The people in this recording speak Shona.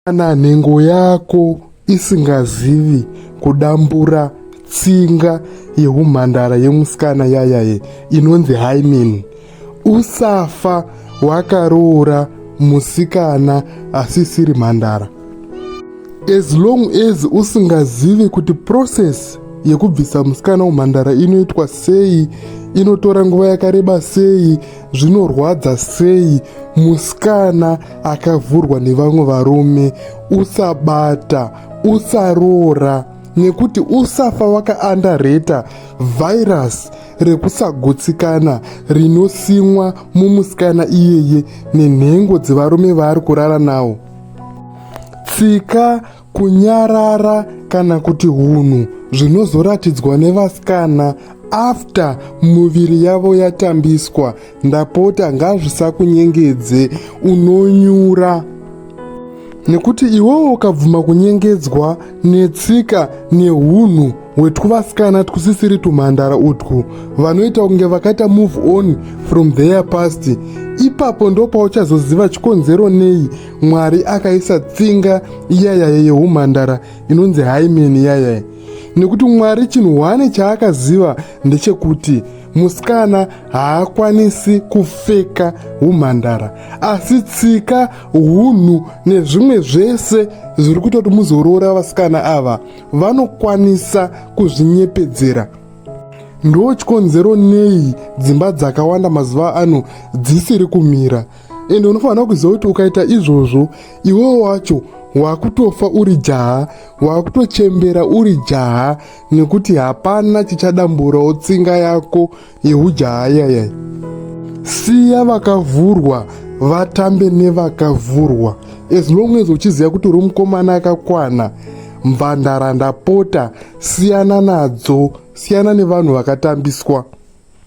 Kana nhengo yako isingazivi kudambura tsinga yehumhandara yemusikana yayaye inonzi hymen usafa wakaroora musikana asisiri mhandara as long as usingazivi kuti process yekubvisa musikana umhandara inoitwa sei inotora nguva yakareba sei zvinorwadza sei musikana akavhurwa nevamwe varume usabata usaroora nekuti usafa wakaandareta vhairasi rekusagutsikana rinosimwa mumusikana iyeye nenhengo dzevarume vaari kurara nawo tsika Kunyarara kana kuti hunhu zvinozoratidzwa nevasikana after muviri yavo yatambiswa ndapota ngazvisakunyengedze unonyura nekuti iwewo ukabvuma kunyengedzwa netsika neunhu hwetwuvasikana twusisiri twumhandara utwu vanoita kunge vakaita move on from their past ipapo ndopauchazoziva chikonzero nei mwari akaisa tsinga iyayaye yeumhandara inonzi haimen iyayaye nekuti mwari chinhu hwane chaakaziva ndechekuti musikana haakwanisi kufeka umhandara asi tsika unhu nezvimwe zvese zviri kuita kuti muzoroora vasikana ava vanokwanisa kuzvinyepedzera ndo chikonzero nei dzimba dzakawanda mazuva ano dzisiri kumira ende unofanira kuziva kuti ukaita izvozvo iwewo wacho wakutofa uri jaha wakutochembera uri jaha nekuti hapana chichadamburawo tsinga yako yeujaha yayai siya vakavhurwa vatambe nevakavhurwa as long as uchiziva kuti uri mukomana akakwana mvandara ndapota siyana nadzo siyana nevanhu vakatambiswa